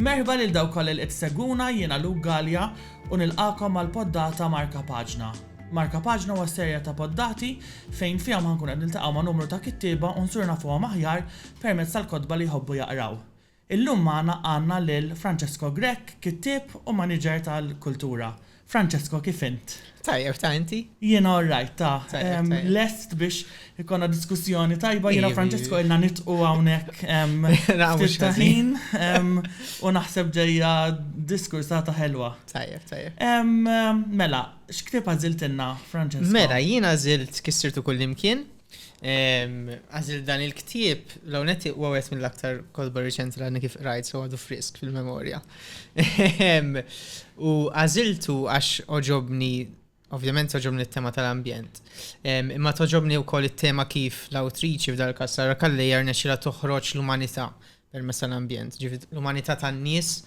Merħba lil dawk kollha li qed seguna jiena Luke Gallia u nilqakom għal poddata Marka Paġna. Marka Paġna huwa serja ta' poddati fejn fihom ħankun qed niltaqgħu ma' numru ta' kittieba u nsur nafuhom aħjar permezz tal-kotba li jħobbu jaqraw. Illum magħna għandna lil Francesco Grech, kittieb u maniġer tal-kultura. Francesco, kif int? Tajjeb, ta' inti? Jiena all right, ta'. Lest biex ikollna diskussjoni tajba, jiena u Francesco ilna nidħqu hawnhekk ftit ta' ħin u naħseb ġejja diskursata ħelwa. Tajjeb, tajjeb. Mela, x'ktieb għażiltilna, Francesco? Mela, jiena għażilt Kif Sirtu Kullimkien, Għazil dan il-ktib, l-għonet u għawet minn l-aktar kolba reċenti l kif rajt, so għadu frisk fil-memoria. U għaziltu għax oġobni, ovvjament oġobni t-tema tal-ambjent. Imma toġobni u koll it-tema kif l-autriċi f'dal kassara kalli jarna xila toħroċ l-umanita permess tal-ambjent. L-umanita tan-nis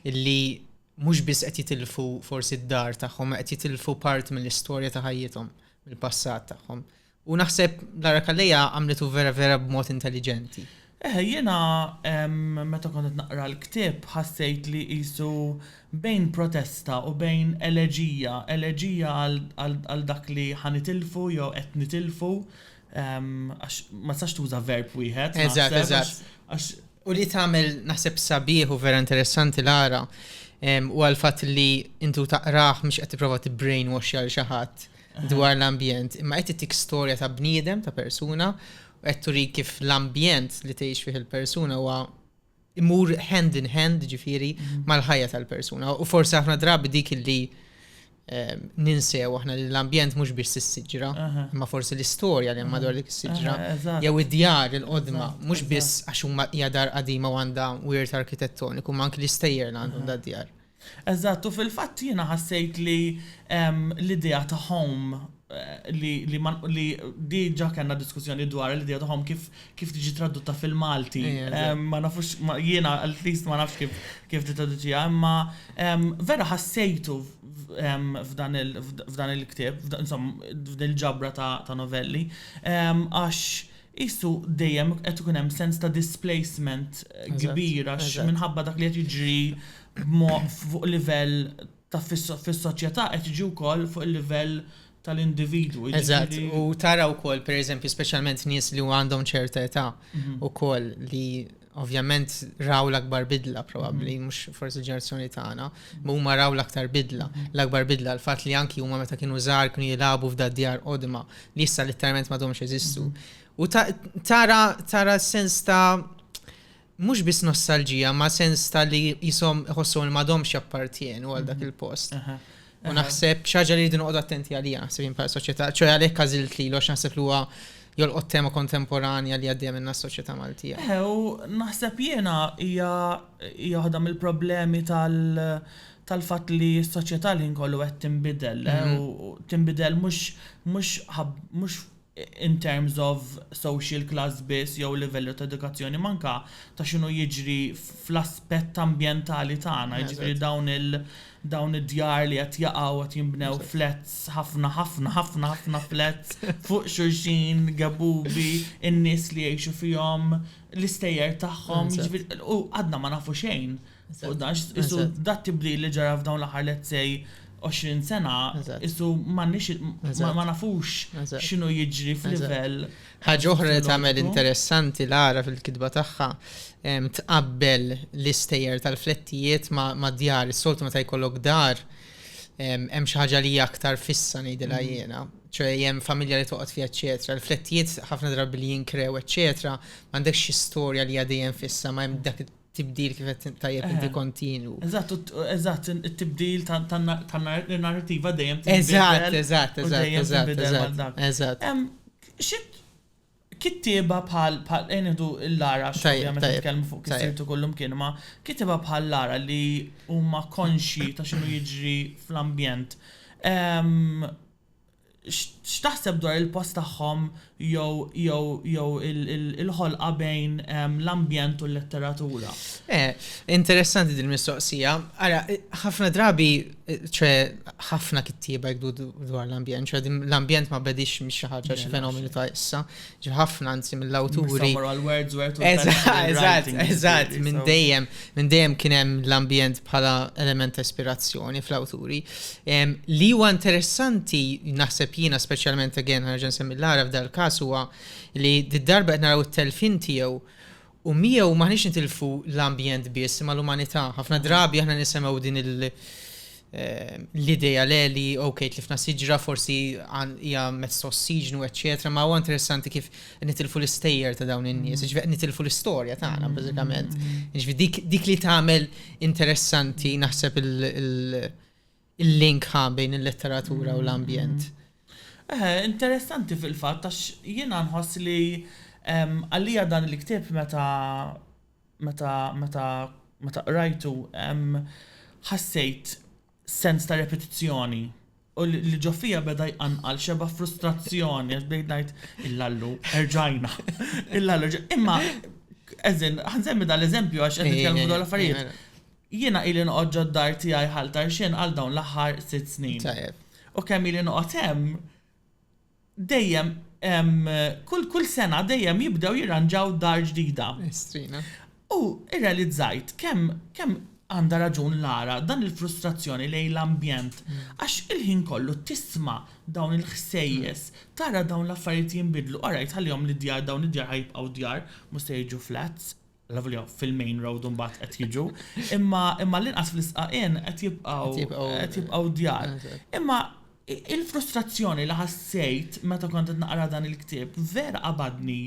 illi mux bis qed jitilfu forsi d-dar tagħhom, qed jitilfu part mill-istorja ta' ħajjithom, mill-passat tagħhom. Ta U naħseb Lara Calleja għamlitu vera vera b'mod intelliġenti. Eħe, jiena meta kont qed naqra l-ktieb ħassejt li qisu bejn protesta u bejn eleġija, eleġija għal dak li ħa nitilfu jew qed nitilfu għax ma tistax tuża verb wieħed. Eżatt, eżatt. U li tagħmel naħseb sabiħ u vera interessanti Lara u għal fatt li intu taqrah mhux qed tipprova tibbrainwash għal xi ħadd. dwar l-ambjent, imma qed tik storja ta' bniedem, ta' persuna, u qed turi kif l-ambjent li tgħix fih il-persuna huwa imur hand in hand ġifiri mhm. mal-ħajja tal-persuna. U forsi aħna drabi dik li eh, ninsew aħna li l-ambjent mhux biex s-siġra, imma forsi l-istorja li madwar dik is-siġra, jew id-djar il-qodma, mhux biss għax huma hija dar qadima u għandha wirt arkitettoniku, ma anki l-istejjer għandhom da djar. Eżatt, u fil-fatt jiena ħassejt li l-idea ta' home li li ma li di ġa kellna diskussjoni dwarha l-idea ta' home kif kif tiġi tradotta fil-Malti. Ma nafux jiena at least ma nafx kif kif tittraduċiha imma vera ħassejtu f'dan il f'dan il-ktieb insomma f'din il-ġabra ta' novelli għax Qisu dejjem qed ikun hemm sens ta' displacement kbir għax minħabba dak li qed jiġri fuq livell ta' fis-soċjetà qed jiġi wkoll fuq il-livell tal-individwu. Eżatt, u tara wkoll pereżempju speċjalment nies li għandhom ċerta età wkoll li ovvjament raw l-akbar bidla probabbli, mm. mhux forsi ġerazzjoni tagħna, ma huma raw l-aktar bidla. L-akbar bidla l-fatt li anki huma meta kienu żgħar kienu jilagħbu f'da djar qodma li issa litteralment ma domx eżistu. Mm. U tara tara sens ta' mhux biss nostalġija, ma sens ta' li jisom iħossu ma domx jappartjenu għal dak mhm. il-post. U naħseb xaġa li rridu noqgħod attenti għalija naħseb jien bħala soċjetà, ċoj għalhekk għażilt li għax naħseb li huwa jolqot tema kontemporanja li għaddejja minna s-soċjetà Maltija. Eh, u naħseb jiena hija hija waħda mill-problemi tal-fatt li s-soċjetà li nkollu qed tinbidel, eh, mhm. u tinbidel mhux mhux mhux in terms of social class biss jew livell ta' edukazzjoni, ma anke ta' x'inhu jiġri fl-aspett ambjentali tagħna, jiġifieri dawn il dawn id-djar li qed jaqgħu qed jinbnew flats ħafna ħafna ħafna ħafna flats fuq xulxin, gebubi, in-nies li jgħixu fihom, l-istejjer tagħhom, jiġifieri u għadna ma nafu xejn U dan isu dat tibdil li ġara f'dawn l-aħħar let's say 20 sena, isu ma nafux x'inhu jiġri f'livell. Ħaġa oħra li tagħmel interessanti l-ara fil-kitba tagħha tqabbel l-istejjer tal-flettijiet ma' djar, is-soltu meta jkollok dar hemm xi ħaġa li aktar fissa ngħidilha mm. jiena ċe jem familja li toqgħod fiha eċetera. Il-flettijiet ħafna drabi li jinkrew eċetera, m'għandekx xi storja li għadejjem fissa ma hemm dak tibdil kif qed tajjeb inti kontinwu. Eżatt, eżatt, it-tibdil tan-narrativa dejjem tibdil. Eżatt, eżatt, eżatt, eżatt, eżatt. Xit kittieba bħal bħal enidu l-lara x'għamja meta tkellmu fuq kisirtu kollum kien ma kittieba bħal lara li huma konxji ta' x'inhu jiġri fl-ambjent. X'taħseb dwar il-post tagħhom jew jew jew il-ħolqa bejn l-ambjent u l-letteratura? Eh, interessanti din mistoqsija. Ara, ħafna drabi, ċe ħafna kittieba jgħidu dwar l-ambjent, ċe l-ambjent ma bedix mhix xi ħaġa xi fenomenu ta' issa. ħafna anzi mill-awturi. Eżatt, eżatt, minn dejjem, minn dejjem kien hemm l-ambjent bħala element ispirazzjoni fl-awturi. Li huwa interessanti naħseb jiena speċjalment again ħarġa nsemmi l-għaraf dal-każ huwa li d-darba qed naraw it-telfin tiegħu U miegħu m'aħniex nitilfu l-ambjent biss imma l-umanità. Ħafna drabi aħna nisemgħu din l-idea le li ok tlifna siġra forsi hija mezz ta' ossiġnu eċċetera, ma huwa interessanti kif nitilfu l-istejjer ta' dawn in-nies, jiġifieri qed nitilfu l-istorja tagħna bażikament. Jiġifieri dik li tagħmel interessanti naħseb il- il-link ħa bejn il-letteratura u l-ambjent. Eħe, interessanti fil-fatt għax jiena nħoss li għalija dan il-ktieb meta meta meta meta qrajtu ħassejt sens ta' repetizzjoni u li ġo fija beda jqanqal xeba' frustrazzjoni għax bdejt ngħid il-lallu erġajna. Il-lallu Imma eżin, ħansemmi dan l-eżempju għax qed nitkellmu dwar l-affarijiet. Jiena ili noqgħod ġod-dar tiegħi Ħal Tarxien għal dawn l-aħħar sitt snin. Tajjeb. U kemm ili noqgħod hemm, dejjem hemm, kull kull sena dejjem jibdew jirranġaw dar ġdida. Estrina. U irrealizzajt kemm kemm għandha raġun Lara, dan il-frustrazzjoni lejn l-ambjent, għax il-ħin kollu tisma' dawn il-ħsejjes, tara dawn l-affarijiet jinbidlu, orajt ħallihom lid-djar dawn id-djar ħa jibqgħu djar, mhux se jiġu flats. Lavolja fil-main road u mbagħad qed jiġu, imma imma l-inqas fl-isqaqien qed jibqgħu Qed jibqgħu- qed jibqgħu djar. Eżatt. Imma i- il-frustrazzjoni li ħassejt meta kont qed naqra dan il-ktieb vera qabadni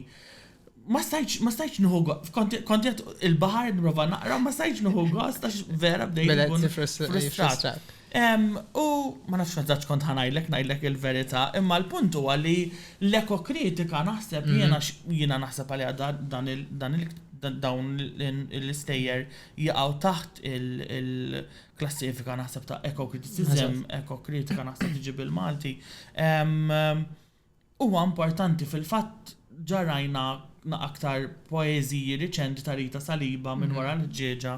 ma stajtx ma stajtx nieħu go- kont kont qed il-baħar qed nipprova naqra u ma stajtx nieħu gost għax vera bdejt Beda inkun tifrustra- frustrat. jiffrustrak. U, ma nafx mezz'ax kont ħa ngħidlek, ngħidlek il-verità, imma l-punt huwa li l-ekokritika naħseb jiena jiena naħseb għaliha dan il dan il dawn l-istejjer jaqgħu taħt il-klassifika naħseb ta' ekokritiċiżem, ekokritika naħseb tiġi bil-Malti. Huwa importanti fil-fatt ġarrajna aktar poeżiji riċenti ta' Rita Saliba minn wara l-ħġieġa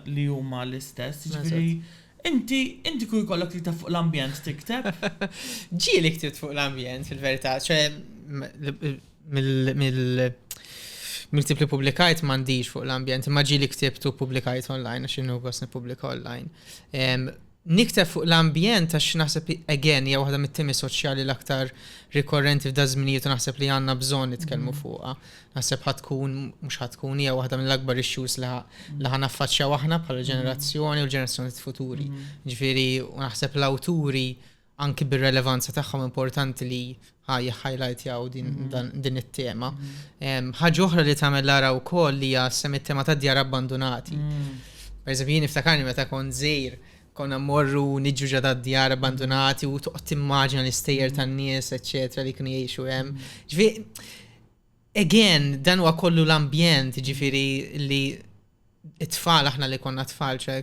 li huma l-istess. Jiġifieri inti inti kieku jkollok tikteb fuq l-ambjent tikteb? Ġieli ktibt fuq l-ambjent fil-verità, ċe mill miktib li publikajt m'għandix fuq l-ambjent, imma ġieli ktibt u publikajt online għax inhu gost nippubblika online. Nikteb fuq l-ambjent għax naħseb li, again, hija waħda mit-temi soċjali l-aktar rikorrenti f'daż-żminijiet u naħseb li għandna bżonn nitkellmu fuqha. Naħseb ħa tkun, mhux ħa tkun, hija waħda mill-akbar issues li ħa naffaċċjaw aħna bħala ġenerazzjoni u l-ġenerazzjonijiet futuri. Jiġifieri, u naħseb l-awturi anki bir-relevanza tagħhom importanti li ħa jihhajlajtjaw din, mm-hmm. dan, din it-tema. Mm-hmm. Ħaġa oħra li tagħmel l-ara wkoll li hija sem it-tema ta' djar abbandunati. Mm. Per eżempju, jien niftakarni meta kont żejr konna morru niġu ġada djar abbandunati u toqgħod timmaġina l-istejjer tan-nies, eċċetera, li kienu jgħixu hemm. Ġifi, again, dan huwa kollu l-ambjent, ġifieri li t-tfal aħna li konna tfal, ċe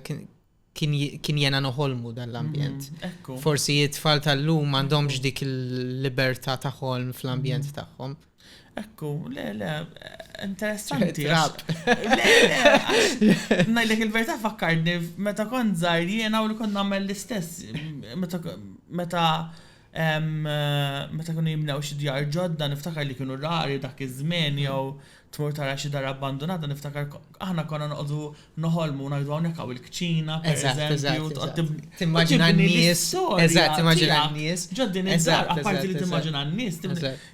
kien jena noħolmu dan l-ambjent. Mm, Forsi it-tfal tal-lum għandhomx dik il-libertà ta' ħolm fl-ambjent mm. tagħhom. Ekku, le, le, interessanti. Trap. Le, le, najdek il-verta fakkarni, meta kont zaħir jena u li kont namel l-istess, meta Meta kienu jibnew xi djar ġodda niftakar li kienu rari dak iż-żmien jew tmur tara xi dar abbandunata niftakar aħna konna noqogħdu noħolmu u ngħidu hawnhekk hawn il-kċina pereżempju tqgħod tibni Timmaġina n-nies Eżatt, timmaġina n-nies Ġo din id-dar apparti li timmaġina n-nies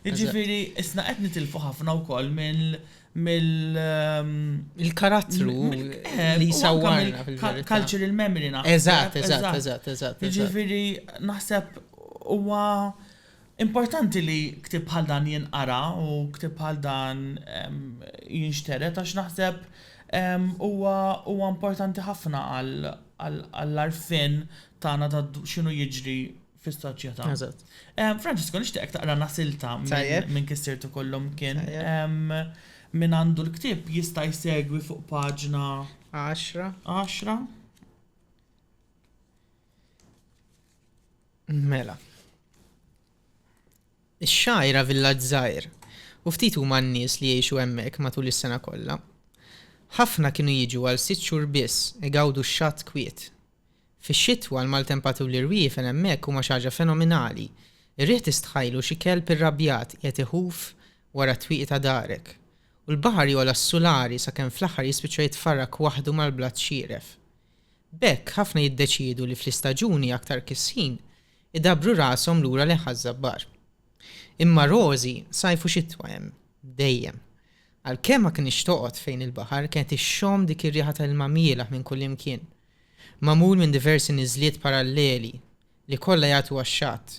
Jiġifieri isna qed nitilfu ħafna wkoll mill mill-karattru li jsawwarna fil-verità. Cultural memory naħseb. Eżatt, eżatt, eżatt, eżatt. Jiġifieri naħseb huwa importanti li ktieb bħal dan jinqara u ktieb bħal dan jinxtered għax naħseb huwa huwa importanti ħafna għall-għarfien tagħna ta' x'inhu jiġri fis-soċjetà. Eżatt. Eh, Francisco, nixtieqek taqra nasilta Tajjeb. minn kissirtu kollhom kien. Tajjeb. Em, Min għandu l-ktieb jista' jsegwi fuq paġna 10. 10. Mela. Ix-xajra villaġġ żgħir u ftit huma n-nies li jgħixu hemmhekk matul is-sena kollha. Ħafna kienu jiġu għal sitt xhur biss igawdu x-xatt kwiet. Fix-xitwa, l-maltempaturi rwiefen hemmhekk huma xi ħaġa fenominali. Ir-riħ tistħajlu xi kelb irrabjat qiegħed iħuf wara t-twieqi ta' darek. U l-baħar jogħla s-sulari sakemm fl-aħħar jispiċċa jitfarrak waħdu mal-blat xieref. B'hekk, ħafna jiddeċiedu li fl-istaġuni aktar kissin, idabbru rashom lura lejn Ħaż-Żabbar. Imma Rosie sajf u xitwa hemm, dejjem. Għalkemm ma kinitx toqgħod fejn il-baħar, kienet ixxomm dik ir-riħa ta' ilma mielaħ minn kullimkien. Magħmul minn diversi niżliet paralleli, li kollha jagħtu għax-xatt.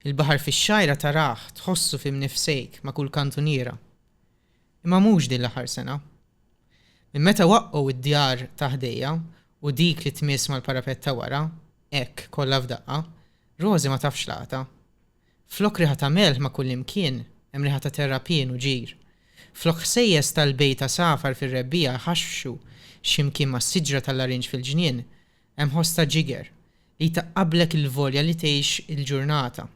Il-baħar fix-xgħira tarah, tħossu fi mnifsejk, ma' kull kantuniera. Imma mhux din l-aħħar sena. Minn meta waqqgħu d-djar ta' ħdejja u dik li tmiss mal-parapett ta' wara, hekk, kollha f'daqqa, Rosie ma tafx laqgħatha. Flok riħa ta' melħ ma' kullimkien, hemm riħa ta' terrapien u ġir. Flok ħsejjes tal-bejt għasafar fir-rebbiegħa jħaxxxu x'imkien mas-siġra tal-larinġ fil-ġnien, hemm ħoss ta' ġiger, li jtaqqablek il-volja li tgħix il-ġurnata.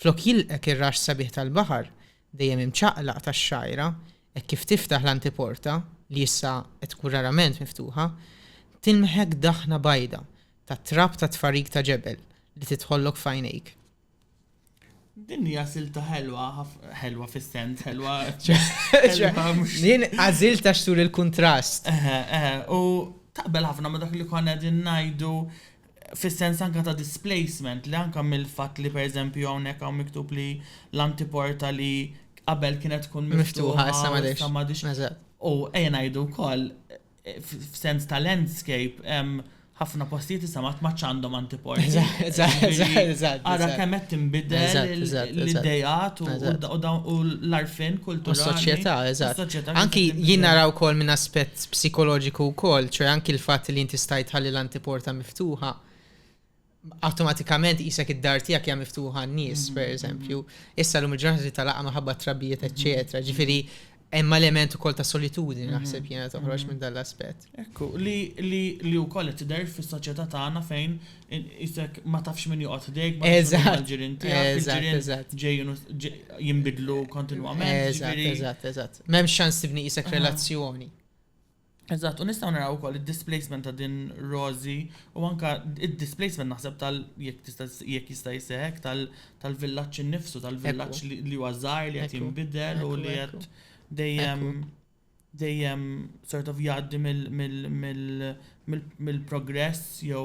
Flok jilqgħek ir-raxx sabiħ tal-baħar, dejjem imċaqlaq tax-xgħajra, hekk kif tiftaħ l-antiporta, li issa qed tkun rarament miftuħa, tilmħek daħna bajda ta' trab ta' tfarrik ta' ġebel li tidħollok f'għajnejk. Din hija silta ħelwa, ħelwa fis-sens, ħelwa Jien għażilt għax turi l-kuntrast. U taqbel ħafna ma dak li konna qegħdin ngħidu fis-sens anke ta' displacement li anke mill-fatt li pereżempju hawnhekk hawn miktub li l-antiporta li qabel kienet tkun miftuħa issa m'għadhiex. U ejja ngħidu wkoll f'sens ta' landscape ħafna postijiet issa ma tmgħadx għandhom antiporti. Ara kemm qed tinbidel l-ideat u l-għarfien kulturali. Is-soċjetà, eżatt. Anki jien nara wkoll minn aspett psikoloġiku wkoll, ċoe anki l-fatt li inti stajt tħalli l-antiporta miftuħa, awtomatikament qisek id-dar tiegħek hija miftuħa għan-nies, mm-hmm. pereżempju. Issa llum il-ġurnata li talaqa maħabba trabbijiet, eċċetera. Mm-hmm. Ġifieri hemm element ukoll ta' solitudni mm-hmm. naħseb jiena toħroġ minn dan l-aspett. Ekku, li li wkoll qed tidher fis-soċjetà tagħna fejn isek ma tafx min joqgħod ħdejk, ma tafx ġirien tiegħek, ġirien ġejjin jinbidlu kontinwament. Eżatt, eżatt, eżatt. M'hemmx ċans tibni qisek relazzjoni. Eżatt, u nistgħu naraw ukoll id-displacement ta' din Rozi u anka id-displacement naħseb tal jekk tista' jekk jista' jseħek tal-villaġġ innifsu, tal-villaġġ li huwa żgħar li qed jinbidel u li qed dejjem dejjem sort of jgħaddi mill-progress jew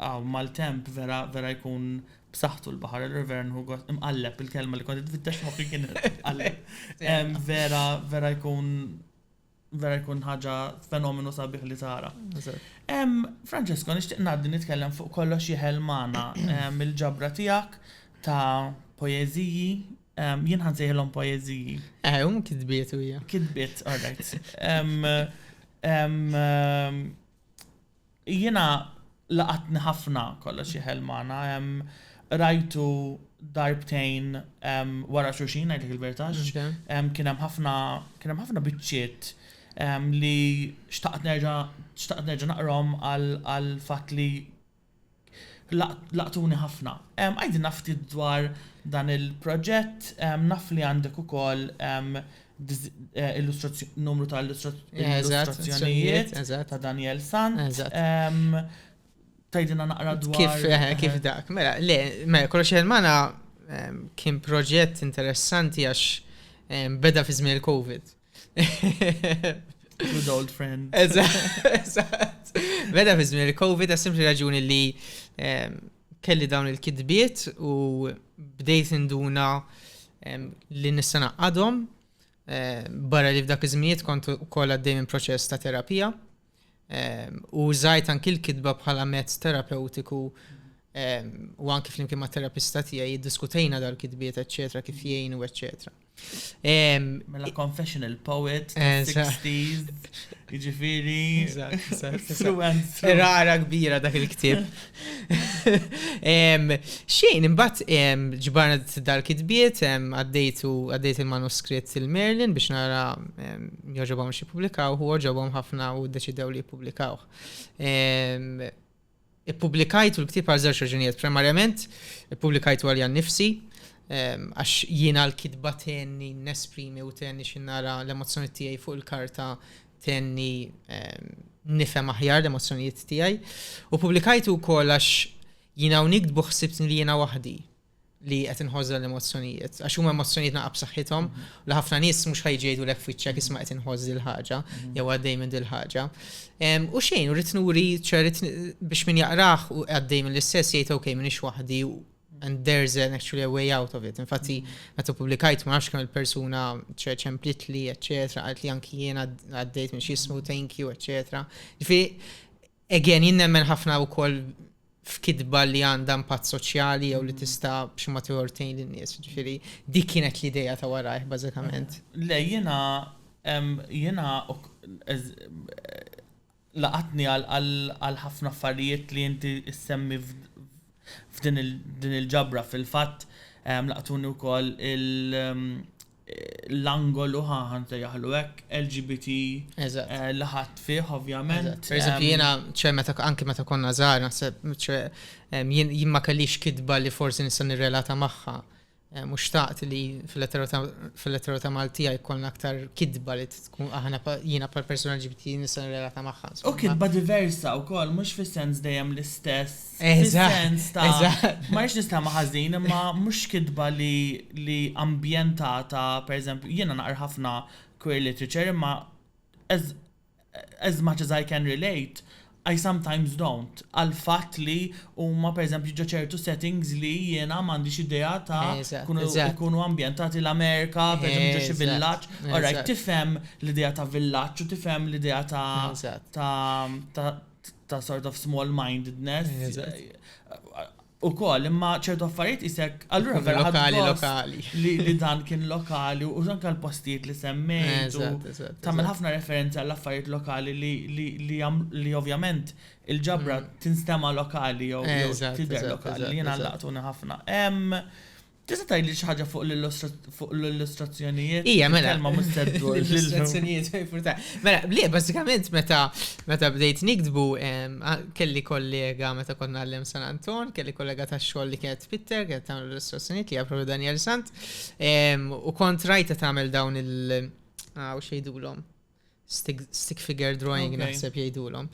Hawn maltemp vera vera jkun b'saħħtu l-baħar, allura vera nħu gost. Imqalleb il-kelma li kont qed nfittex f'moħħi kien imqalleb. Em, Vera vera jkun vera jkun ħaġa fenomenu sabiħ li tara. Em, Francesco, nixtieq ngħaddi nitkellem fuq kollox jeħel magħna em, il-ġabra tiegħek ta' poeżiji, em, jien ħansejħilhom poeżiji. Eh, um kitbiet u hija. Kitbiet, all right. Em, em, em, Jiena laqatni ħafna Kollox Jeħel Magħna, qrajtu darbtejn wara xulxin ngħidlek il-verità għax kien hemm ħafna kien hemm ħafna biċċiet li xtaqt nerġa' xtaqt nerġa' naqrahom għall-fatt li Laqtuni ħafna. Għidilna ftit dwar dan il-proġett, naf li għandek ukoll numru ta' illustrazzjonijiet ta' Daniel Sant. Tgħidilna naqra dwar. Kif, kif dak. Mela, le, mela, kollox jgħid magħna kien proġett interessanti għax beda fi żmien il-COVID. Good old friend. Eżatt. Meta fi żmien il-COVID għas simpli raġuni li ehm, kelli dawn il-kidbiet u bdejt induna ehm, li nista' naqqadhom. Ehm, barra li f'dak iż-żminijiet kont ukoll għaddej minn proċess ta' terapija. u użajt anki l-kitba bħala mezz terapewtiku u anki flimkien ma' terapista tiegħi jiddiskutejna dal-kitbiet, eċċetera, kif jgħinu, eċċetera. Mela confessional poet, 60s, jiġifieri. Rara kbira dak il-ktieb. Xejn, imbat ġbarna dal-kitbiet, għaddejtu għaddejt il-manuskritt il-Merlin biex nara joġobom xie publikaw, u oġobom ħafna u deċidew li publikaw. Publikajtu l-ktib għal żewġ raġunijiet. Primarjament, publikajtu għalja nifsi, għax jiena l-kitba tenni nesprimi u tenni xinnara l-emozjoni tiegħi fuq il-karta tenni nifhem aħjar l-emozzjonijiet tiegħi. U publikajtu wkoll għax jina u nikdbu ħsibtni li jina waħdi li qed inħożha l-emozzjonijiet, għax huma emozzjonijiet naqab saħħithom mhm. li ħafna nies mhux ħajġejdu lek fiċċek isma' qed inħożż il ħaġa mhm. jew għaddej minn dil ħaġa. U xejn, u ritnuri ċerit biex min jaqrah u għaddej minn l-istess jgħid ok minn waħdi And there's an actually a way out of it. Infatti, meta publikajt ma nafx kemm il-persuna ċemplit li, eccetera, għalt li anki jiena għaddejt minn xismu, thank you, eccetera. Fi, again, jien nemmen ħafna u koll f'kidba li għandha impatt soċjali jew li tista' b'xi ma tiħortejn lin-nies. Ġifieri dik kienet l-idea ta' warajh bażikament. Le jiena jiena laqatni għal ħafna affarijiet li inti ssemmi f'din il-ġabra. Fil-fatt laqtuni wkoll l-angolu, ħa nsejjaħlu hekk, LGBT li ħadt fih ovvjament. Per eżempju, jiena ċe meta anki meta konna żgħar naħseb jien ma kellix kitba li forsi nista' nirrelata magħha. Mhux xtaqt li fil-lettera ta' Maltija jkollna aktar kitba li tkun aħna jiena bħal persuna LGBT nista' nirrelata magħha. U kitba diversa wkoll mhux fis-sens dejjem l-istess. Fis-sens ta' ma rridx nistema' ħażin imma mhux kitba li ambjentata, pereżempju, jiena naqra ħafna queer literature imma as much as I can relate, I sometimes don't, għall-fatt li huma pereżempju ġo ċertu settings li jiena m'għandix idea ta' jkunu ambjentati l-Amerika, pereżempju ġo xi villaġġ. Alright, tifhem l-idea ta' villaġġ u tifhem l-idea ta' ta' sort of small-mindedness. ukoll imma ċertu affarijiet qisek allura Ikun vera ħadd lokali, gost lokali. li, li dan kien lokali u anke l-postijiet li semmejt u Eżatt, eżatt. tagħmel eżatt. ħafna referenzi għall affarijiet lokali li, li, li, jam- li ovvjament il-ġabra tinstema' lokali jew, jew Eżatt, tidher eżatt, lokali eżatt, li jiena eżatt. laqtuni ħafna. Hemm Tista' tgħidli xi ħaġa fuq l-illustrazzjonijiet? Ija, mela. Kelma mhux se ddur. L-illustrazzjonijiet jfurta. Mela, le, bażikament meta meta bdejt nikdbu kelli kollega meta kont nagħllem San Anton, kelli kollega tax-xogħol li kienet Twitter, kienet tagħmel l-illustrazzjonijiet li hija propju Daniel Sant. U kont rajta tagħmel dawn il- xejdulhom. Stick, stick figure drawing okay. naħseb jgħidulhom.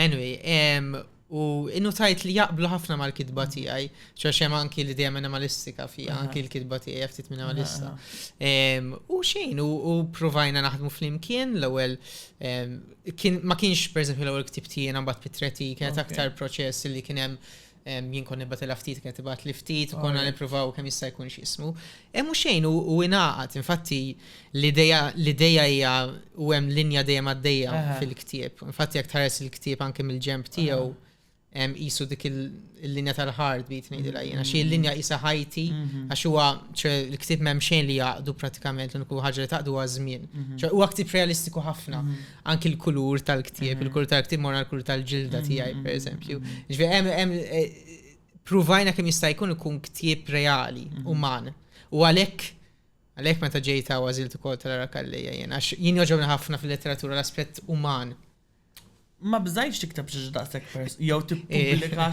Anyway, um, u innu tajt li jaqblu ħafna mal-kitba mm. tiegħi, ċax hemm anki li dejjem minimalistika fi anki l-kitba tiegħi ftit minimalista. Um, u xejn, u, u provajna naħdmu flimkien l-ewwel um, kien, ma kienx pereżempju l-ewwel ktib tiegħi mbagħad pitretika, okay. aktar proċess li kien hemm Jien kon nibbatilha ftit kien tibgħatli ftit u konna nippruvaw kemm jista' jkun x'jismu. Hemm xejn u ingħaqad, infatti l-idea hija u hemm linja dejjem għaddejja fil-ktieb. Infatti jekk tħares il-ktieb anke mill-ġemp tiegħu qisu dik il-linja tal-ħard bit ngħidilha jiena. Xi l-linja qisha ħajti għax huwa l-ktieb m'hemm xejn li jaqdu pratikament l-uniku ħaġa li taqdu huwa żmien. Huwa ktieb realistiku ħafna. anki l-kulur tal-ktieb, il-kulur tal-ktieb mor l-kulur tal-ġilda tiegħi, mm-hmm. per eżempju. Ġvi, hemm eh, pruvajna kemm jista' jkun ikun ktieb reali, mm-hmm. uman. U għalhekk għalhekk meta ġejta u għażilt ukoll tal-ara kallejja jien, għax jien joġobni ħafna fil-letteratura l-aspett uman. Ma bżajx tiktab xi daqshekk pers, jew tippubblika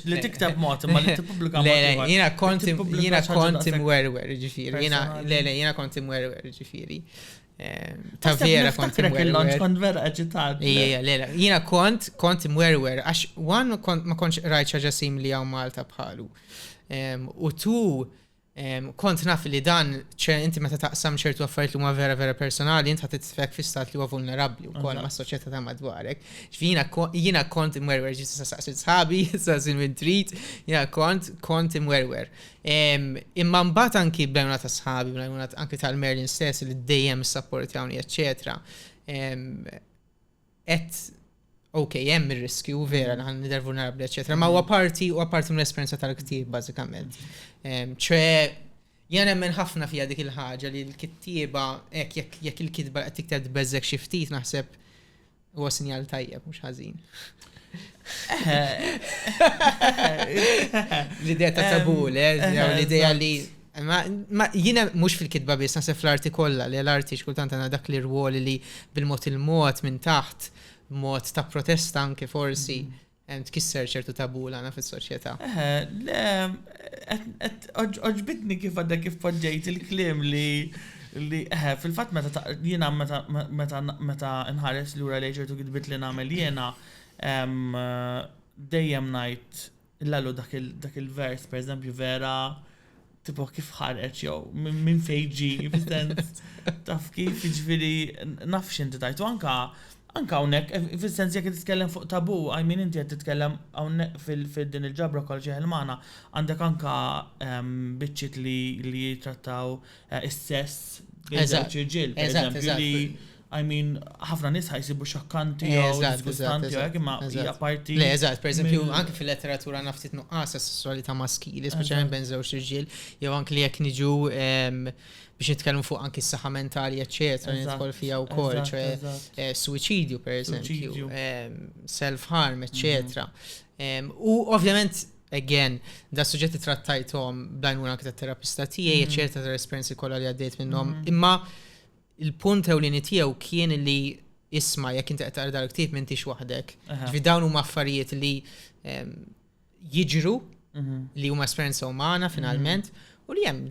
li tiktab mod ma li tippubblika mod. Le, jiena kont jiena kont imwerwer ġifieri, jiena le le jiena kont imwerwer ġifieri. Eh, ta' vera kont il-lunch kont vera agitat. Ija, lela. Jina kont, kont mwerwer, għax wan ma kontx rajt ċaġa simli għaw Malta bħalu. U tu, kont naf li dan, ċe inti meta taqsam ċertu affarijiet li huma vera vera personali, inti ħadd tfek fi stat li huwa vulnerabbli wkoll ma' soċjetà ta' madwarek. Jiena kont imwerwer ġiet sa saqsi sħabi, sa sin minn trid, jiena kont kont imwerwer. Imma mbagħad anki bl-għajnuna ta' sħabi, bl-għajnuna anki tal-Merlin stess li dejjem sapportjawni, eċċetera. Et ok, hemm ir-riskju vera li ħan nidher vulnerabbli, eċetera, ma huwa mm. parti huwa parti mill-esperjenza tal-ktieb bażikament. Ċe Jan emmen ħafna fija dik il-ħaġa li l-kittieba, jekk il-kitba qed tikteb beżek xi ftit naħseb Huwa sinjal tajjeb, mhux ħażin. L-idea ta' tabu, le, l-idea li. Ma jiena mhux fil-kitba biss nasef l-arti kollha, li l-arti xkultant għandha dak li rwoli li bil-mod il-mod minn taħt, mod ta' protesta anke forsi. Mm. Tkisser ċertu tabu li għandna fis-soċjetà. Eħe, le, għoġbitni kif għadha kif poġġejt il-kliem li li eħe, fil-fatt meta jiena meta nħares lura lejn ċertu kitbiet li nagħmel jiena dejjem ngħid l-għalu dak il-vers, pereżempju vera Tipo kif ħareġ jew minn fejn ġi, fis-sens taf kif jiġifieri naf x'inti tajtu anka anka hawnhekk eh, fis-sens jekk titkellem fuq tabu, I mean inti qed titkellem hawnhekk fil-din il-ġabra kol xi ħilmana, għandek anka ehm, biċċiet li jitrattaw eh, is-sess bejn żewġ irġiel, pereżempju li I mean, ħafna nis ħajsibu xokkanti eh, jew disgustanti jew imma hija parti. Le, eżatt, per eżempju, anke fil-letteratura naftit nuqqas sessualità maskili, speċjalment bejn żewġ irġiel, jew anke li jekk niġu ehm, biex nitkellmu fuq anki s-saħħa mentali, eċċetera, nidħol fija wkoll, ċe eh, suicidju per eżempju, ehm, self-harm, eċċetera. Mhm. Ehm, u ovvjament again, da suġġetti trattajtom b'dajnuna anke tat-terapista tiegħi, mhm. eċċetera, tal-esperjenzi kollha li għaddejt minnhom, mhm. imma Il-punt ewlieni tiegħu kien li isma' jekk inti qed taqra dal-ktieb m'intix waħdek. Ġifi dawn huma affarijiet li ehm, jiġru mhm. li huma esperjenza umana mhm. finalment u li hemm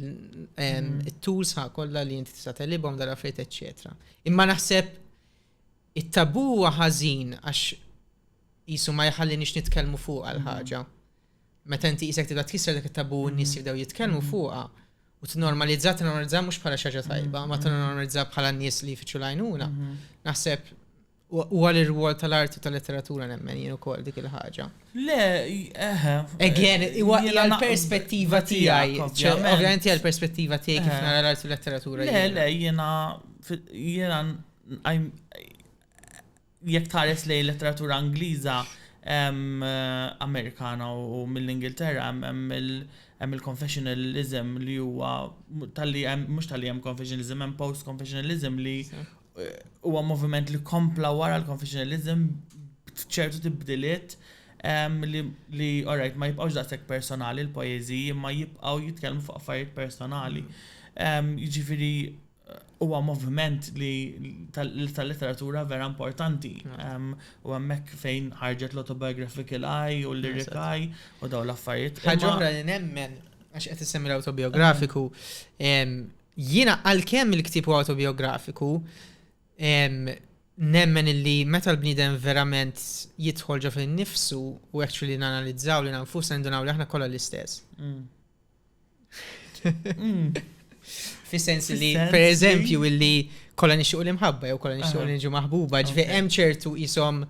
ehm, mhm. it-tools ħa kollha li inti tista' telibhom dal-affarijiet eċċetera. Imma naħseb it-tabu huwa ħażin għax jisu ma jħallinix nitkellmu fuq għal ħaġa. meta inti qisek tibda tkisser dak it-tabù u n-nies jibdew jitkellmu fuqha u t-normalizza, t-normalizza mhux bħala xaġa tajba, ma t-normalizza bħala n-nies li jfittxu lajnuna. Naħseb u għal ir-rwol tal-arti u tal-letteratura nemmen jien ukoll dik il-ħaġa. Le, eħe. Again, huwa hija l-perspettiva tiegħi. Ovvjament hija l-perspettiva tiegħi kif nara l-arti u l-letteratura. Le, le, jiena jiena jekk tħares lejn il-letteratura Ingliża, Amerikana u mill-Ingilterra hemm hemm il-confessionalism li huwa talli hemm mhux talli hemm confessionalism hemm post-confessionalism li huwa moviment li kompla wara l-confessionalism b'ċertu tibdiliet li li alright ma jibqgħux daqshekk personali l-poeżiji imma jibqgħu jitkellmu fuq affarijiet personali. Jiġifieri Huwa moviment li tal-letteratura vera importanti. U hemmhekk fejn ħarġet l-autobiographical eye u l-lyric eye u daw l-affarijiet. Ħaġa oħra li nemmen għax qed issemmi l-autobiografiku. Jiena għalkemm il-ktieb huwa autobiografiku, nemmen illi meta l-bniedem verament jidħol ġo fin-nifsu u actually nanalizzaw lil nfusna nindunaw li aħna kollha l-istess. Hmm. Fis-sens li, per eżempju, illi kolla nixuq l-imħabba jew kolla nixuq l-inġu maħbuba, ġve hemm ċertu jisom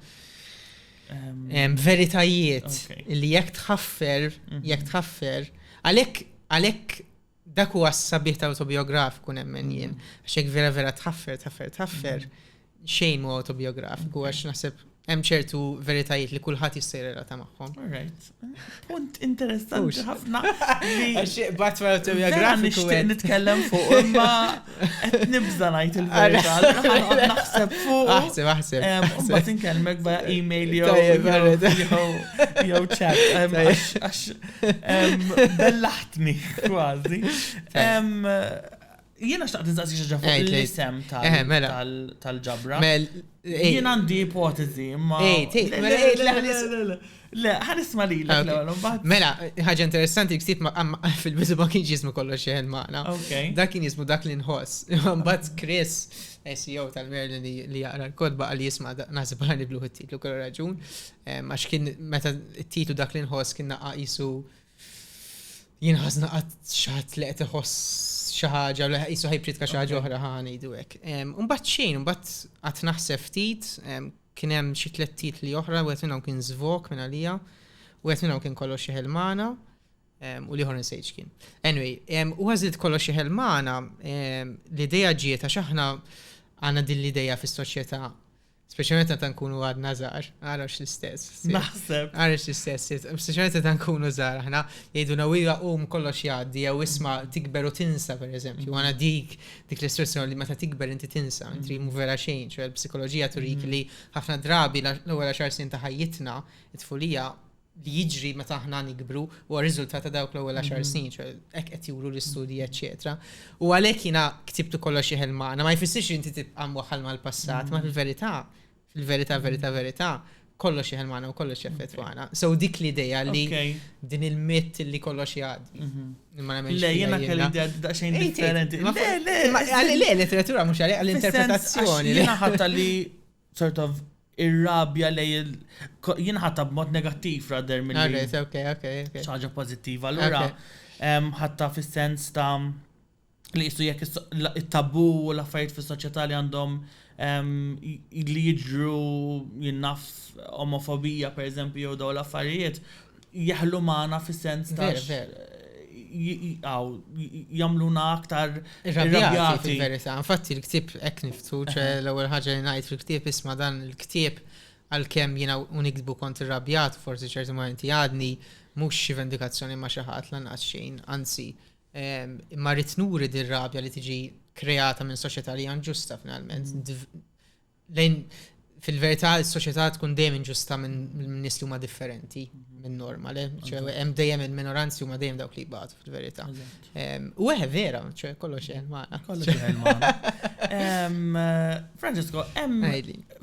ehm. veritajiet li jekk tħaffer, mhm. jekk tħaffer, għalhekk għalhekk dak huwa s-sabiħ tal-autobiografiku nemmen jien, mhm. għax jekk vera vera tħaffer, tħaffer, tħaffer, mhm. xejn mu autobiografiku għax naħseb hemm ċertu veritajiet li kulħadd jista' jirrelata magħhom. Alright. Punt interessanti ħafna. Bat ma autobiografiku. Nixtieq nitkellem fuq imma qed nibża ngħid il-verità. Naħseb fuq. Aħseb aħseb. Ma tinkellmek ba email jew jew chat għax bellaħtni kważi. Jiena xtaqt nistaqsi xi ġafu l-isem eh, mela. tal-ġabra. Mel, eh. jien għandi ipotezi, ma. Eh, le, ħanisma li l ah, Mela, ħaġa interessanti ksib fil-bizu ma kienx jismu kollox xeħen maħna. Dak kien jismu dak li nħoss. Mbagħad Chris, SEO tal-Merlin li jaqra l-kodba għal jisma naħseb għani bluħ it-titlu kollu raġun. Għax kien meta t-titlu dak li nħoss kien naqqa jisu. Jisu Jien ħażna qatt xi ħadd li qed iħoss xi ħaġa li qisu ħajpritka xi ħaġa oħra ħa ngħidu hekk. Imbagħad xejn, imbagħad qatt naħseb ftit, kien hemm xi tliet titli oħra, wieħed minnhom kien żvok minn għalija, wieħed minnhom kien kollox xi ħelmana, u liħor nsejġ kien. Anyway, u għażilt kollox xi ħelmana, l-idea ġiet għax aħna għandna din l-idea fis-soċjetà Speċjalment meta nkunu għadna żgħar, għarax l-istess. Naħseb. Għarax l-istess. Speċjalment meta nkunu żgħar aħna jgħidu na wira qum kollox jgħaddi jew isma' tikber u tinsa pereżempju. Għana dik dik l-istruzzjoni li meta tikber inti tinsa, inti mu vera xejn, ċoħe l-psikoloġija turik li ħafna drabi l-ewwel xar snin ta' ħajjitna, it-tfulija li jiġri meta aħna nikbru u r-riżultat ta' dawk l-ewwel 10 mhm. snin, hekk qed juru l-istudji eċetera. U għalhekk jiena ktibtu kollox jeħel magħna, ma jfissirx inti tibqa' mwaħħal mal-passat, ma mhm. fil-verità, fil-verità, verità, verità, kollox jeħel magħna u kollox jaffettwana. So dik l-idea li din il-mitt li kollox jgħaddi. Mhm. Le, jena kelli da xejn differenti. Le, le, le, letteratura mux għalli, għall-interpretazzjoni. Jena ħatta li sort of ir-rabja lejn il jinħata b'mod negattiv rather milli. Okay, so okay, okay, okay. Ħaġa pożittiva. Allura ħatta fis-sens ta' li jissu jekk it-tabu u l-affarijiet fis-soċjetà li għandhom li jiġru jinnaf omofobija per eżempju jew daw l-affarijiet jeħlu magħna fis-sens ta' Veru, veru. aw, jagħmluna aktar Irrabjati irrabjati. fil-verità. Infatti l-ktieb hekk niftu, ċe l-ewwel ħaġa li ngħid fil-ktieb isma' dan il-ktieb għalkemm jiena u nikdbu kont irrabjat forsi ċerti momenti għadni mhux xi vendikazzjoni ma' xi ħadd lanqas xejn, anzi ehm, imma rrid nuri dir-rabja li tiġi kreata minn soċjetà li hija inġusta finalment. Dv- lejn fil-verità s-soċjetà tkun dejjem inġusta minn nies li huma differenti minn norma, le? Hemm dejjem il-minoranzi huma dejjem dawk li jbatu fil-verità. U eħe vera, ċe kollox hemm magħna. Kollox hemm magħna. Francesco, hemm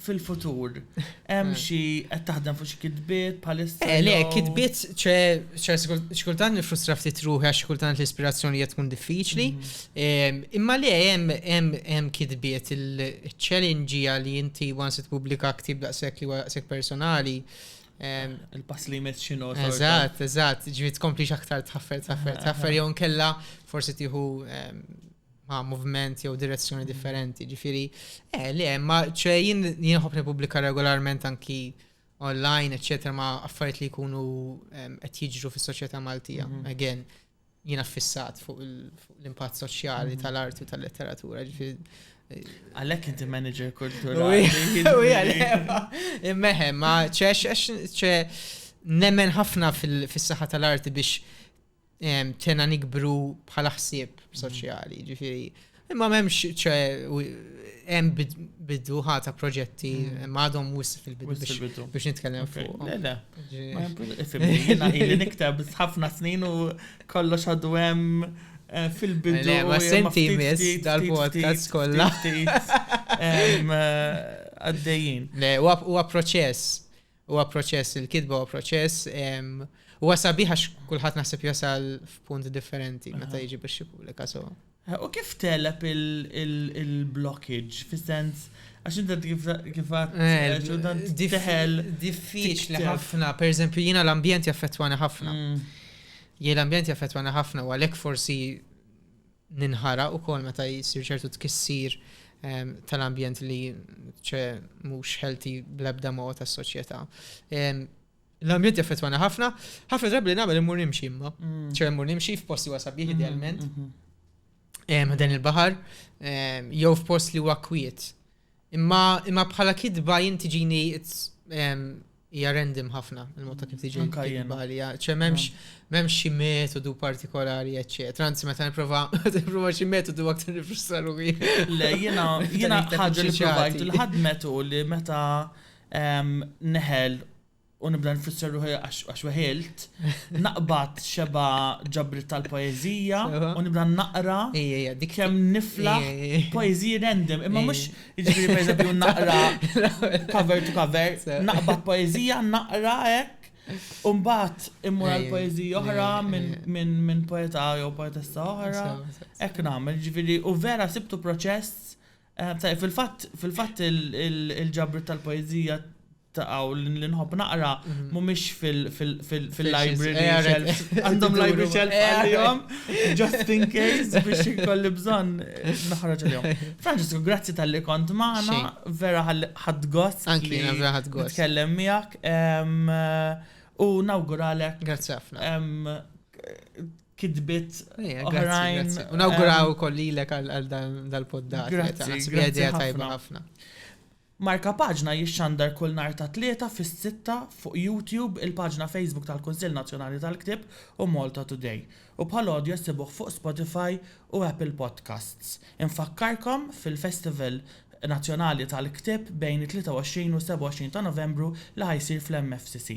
fil-futur hemm eh. xi qed taħdem fuq xi kitbiet bħalissa. Eh, le, kitbiet ċe xkultant nifrustra ftit ruħi għax xkultant l-ispirazzjoni qed tkun diffiċli. Mhm. Imma le hemm kitbiet il-challenge li inti once tippubblika ktib daqshekk li huwa daqshekk personali. Il-pass li jmiss xi nota. Eżatt, eżatt, ġifieri tkomplix aktar tħaffer, tħaffer, tħaffer jew nkella forsi tieħu ma' moviment jew direzzjoni differenti. Ġifieri, eh, le, ma ċe jien nħobb nippubblika regolarment anki online, eċċetera, ma' affarijiet li jkunu qed jiġru fis-soċjetà Maltija. Again, Jiena ffissat fuq l-impatt soċjali mhm. tal-arti u tal-letteratura, Għalek inti manager kulturali. Immeħem, ma ċe nemmen ħafna fil-saħħa tal-arti biex tena nikbru bħala ħsieb soċjali, ġifiri Imma m'hemmx ċe hemm biduħa ta' proġetti mm. m'għadhom wis fil-bidu biex nitkellem fuq. Le le. Ili niktab ħafna snin u kollox għadu hemm eh, fil-bidu. Le, ma senti mis dal-podcast kollha. Eh, għaddejjin. Le, huwa proċess. Huwa proċess, il-kitba huwa proċess, huwa sabiħ għax kulħadd naħseb jasal f'punt differenti meta jiġi biex jippubblika so. U kif teleb il-blockage, fis-sens, għax inti kif għat, teħel. Diffiċli ħafna, per eżempju, jina l-ambjent jaffettwani ħafna. Jien l-ambjent jaffettwani ħafna, u għalek forsi ninħaraq ukoll meta jsir ċertu tkissir tal-ambjent li ċe mhux healthy bl-ebda mod tas-soċjetà. L-ambjent jaffettwana ħafna, ħafna drabi li nagħmel immur nimxi imma. Mm. ċe immur nimxi f'posti wasa bih mm-hmm, idealment. Mm-hmm. Dan il-baħar jew f'post li huwa kwiet. Imma imma bħala kitba jien tiġini it's em, hija random ħafna il-mod ta' kif tiġi Anka jiena. kitba li ċe m'hemmx m'hemmx xi metodu partikolari eċċetera. Anzi meta nipprova meta nipprova xi metodu aktar nifrustra ruħi. Le, jena, jena Iktar ħagġa li iktar provajt, il-ħadmet u li meta em, neħel u nibda nfisser ruħi għax weħilt, naqbad xeba ġabri tal-poezija u nibda naqra kem nifla poezija random, imma mux ġibri per eżempju naqra cover to cover, naqbad poezija, naqra ek, Umbat immur għal poezija oħra minn poeta jew poetessa oħra, ek namel ġviri u vera sibtu proċess Tajjeb, fil-fatt, fil-fatt il-ġabrit tal-poezija taqaw li nħobb naqra mhm. mhumiex fil-library eh, shelf. Għandhom library shelf eh, għalihom, just in case biex ikolli bżonn naħraġ għalihom. Francesco, grazzi tal-li kont maħna, vera ħad gost. Anki, vera ħad gost. Tkellem miegħek u nawguralek. Grazzi ħafna. kitbit eh, oħrajn. Unawguraw eh, kollilek għal dal-poddat. Grazzi, grazzi tajba ħafna. Marka paġna jixxandar kull nar ta' tlieta fis-sitta fuq YouTube il-paġna Facebook tal-Kunsill Nazzjonali tal-Ktib u Malta Today. U bħal audio sibuh fuq Spotify u Apple Podcasts. Infakkarkom fil-Festival Nazzjonali tal-Ktib bejn 23 u 27 ta' Novembru li ħajsir fl-MFCC.